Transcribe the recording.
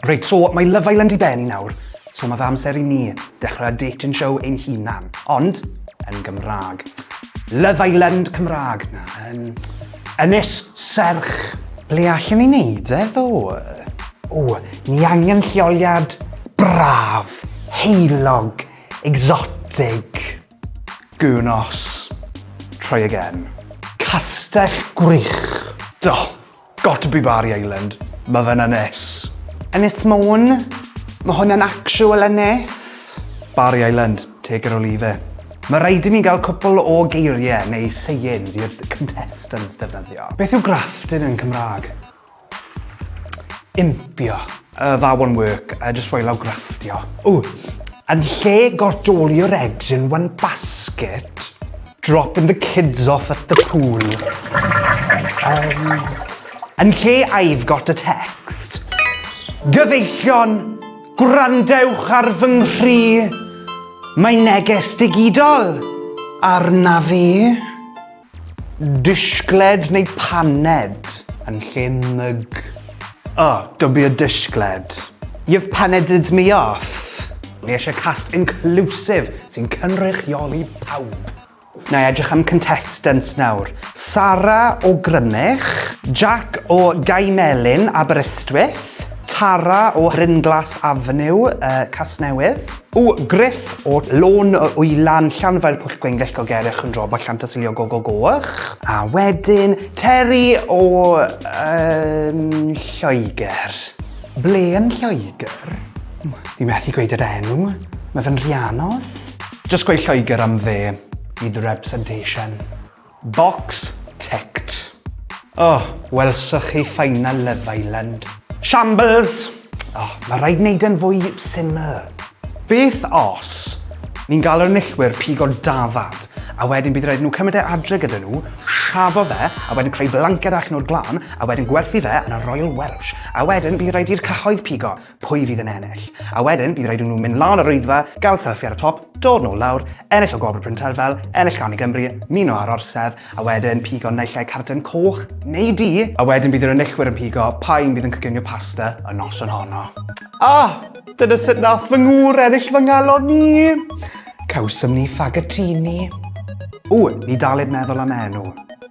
Reit, so mae Love Island i ben i nawr, so mae fe amser i ni dechrau dating show ein hunan, ond yn Gymraeg. Love Island Cymraeg, na, yn Ynys Serch. Ble allan ni wneud e ddo? O, ni angen lleoliad braf, heulog, exotic. Gŵnos. Try again. Castell Gwrych. Do. Got to be Barry Island. Ma fe'n ynys. Ynys Môn. Ma hwn yn actual ynys. Barry Island. Take it or leave it. Ma raid i ni gael cwpl o geirie neu sayings i'r contestants defnyddio. Beth yw grafting yn Cymraeg? Impio. Uh, that won't work. Uh, just rhoi lawr grafftio. Ww, yn lle gordolio'r eggs in one basket, dropping the kids off at the pool. Um, yn lle I've got a text. Gyfeillion, gwrandewch ar fy nghri. Mae neges digidol arna fi. Disgled neu paned yn lle mug. Oh, don't be a disgled. You've paneded me off. Ni eisiau cast inclusive sy'n cynrychioli pawb. Na i edrych am contestants nawr. Sara o Grymych. Jack o Gaimelyn, Aberystwyth. Tara o Rhinglas Avenue, uh, Casnewydd. O Gruff, o Lôn y Wylan, Llanfair Pwll Gwengyll, Gogerich, Chwndrobol, Llantysilio, Gogo Goch. A wedyn, Terry o yym Lloegr. Ble yn Lloegr? Fi methu gweud yr enw, mae fe'n Rhianos. Jyst gweud Lloegr am fe, i the representation. Box ticked. O, welsoch chi final Love Island. Shambles! O, mae rhaid wneud e'n fwy syml. Beth os ni'n galw'r enillwyr pigo dafad, a wedyn bydd rhaid nhw cymryd e adre gyda nhw, siafo fe, a wedyn creu blanced allan o'r glân, a wedyn gwerthu fe yn y Royal Welsh, a wedyn bydd rhaid i'r cyhoedd pigo. pwy fydd yn ennill. A wedyn, bydd rhaid i nhw mynd lan o'r rwyddfa, gael selfie ar y top, dod nôl lawr, ennill o Gwobr Bryn Terfel, ennill gan i Gymru, muno ar orsedd, a wedyn pigo naill ai carden coch neu du, a wedyn bydd yr enillwyr yn pigo pa un bydd yn coginio pasta y noson honno. Ah, dyna sut nath fy ngŵr ennill fy ngalon ni! Cawsom ni ffagatini. Ww, ni daled meddwl am enw.